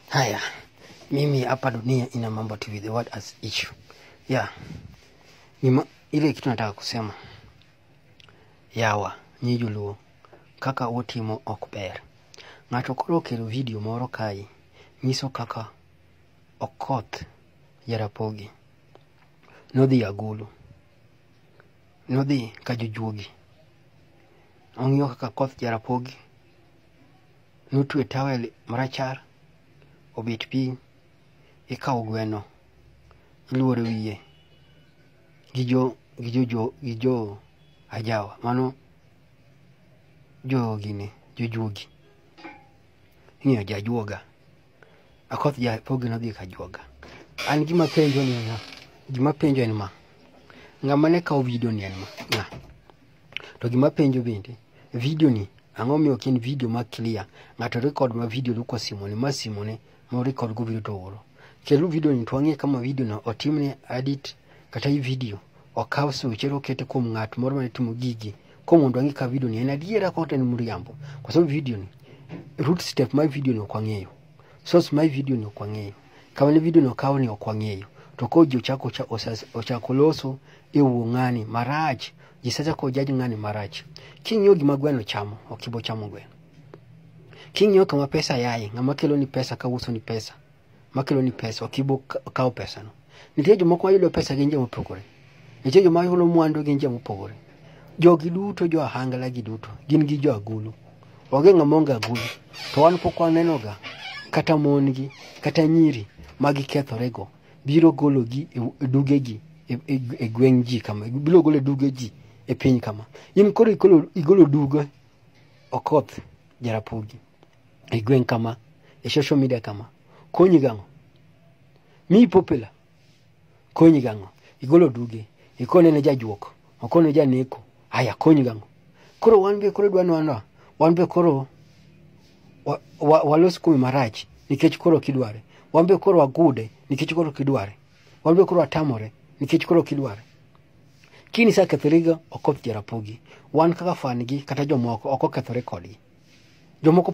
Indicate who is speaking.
Speaker 1: Haya, mimi hapa dunia ina mambo TV, the word as issue. Yeah. Nima, ile kitu nataka kusema yawa nyi joluo kaka utimo ok ber ng'ato koro okelo vidio moro kae nyiso kaka okoth jarapogi nodhi agulu nodhi ka jojuogi ong'iyo kaka koth jarapogi notwe tawel marachar obet piny ikawo gweno iluoro wiye gi jo gi jo jo gi jo ajawa mano jogine jojuogi ing'eyo jajuoga akoth japogi nodhi ka juoga an gima penjo ni na gima penjo en ma ng'ama ne kawo vidio ni en ma ng'a to gima penjo bende video ni ang'o miyo ok en video ma clear ng'ato record ma video lu kwa simone ma simone ma record go video to oro kelu video ni to ang'e kama video no otimne edit kata i video okaw suche okete kuom ng'at moro mane timo gigi ko mondo ang'e ka video ni en adiera kata en mriambo kwa sababu video ni root step my video ni ok ang'eyo source my video ni ok ang'eyo kama ne vidio no kawo ni ok wang'eyo to koro ji ochako ocha- osa- ochako loso e wuo ng'ani marach ji sachako jaj ng'ani marach king'iyo gima gweno chamo ok ibo chamo gweno king'iyo kama pesa yaye ng'ama kelo ni pesa ka uso ni pesa makelo ni pesa ok ibo ka- kawo pesano nitie jomoko mayudo pesa gi nje mopogore Nitie joma yulo mwandu gin joma opogore. Jogi duto jo ahangla gi duto gin gi jo agulu. Onge ng'ama onge agulu. To wan pok wanenoga kata mon gi kata nyiri ma gikethorego biro gologi e e dugegi e, e, e gweng' ji kama biro golo e duge ji e piny kama. In koro igolo, igolo duge okoth jarapogi e gweng' kama e social media kama konyi gang'o? Miyi popular konyi gang'o igolo duge ikone ne jajuok okone janeko haya konyi gang'o koro wan be koro dwano anwa wan be koro wa- wa- walos kume marach nikech koro kidware wan be koro wagude nikech koro kidware wan be koro watamore nikech koro kidware kini sa kethoriga ok ok jarapogi wan kaka fan gi kata jomoko ok okethore kodgi jomoko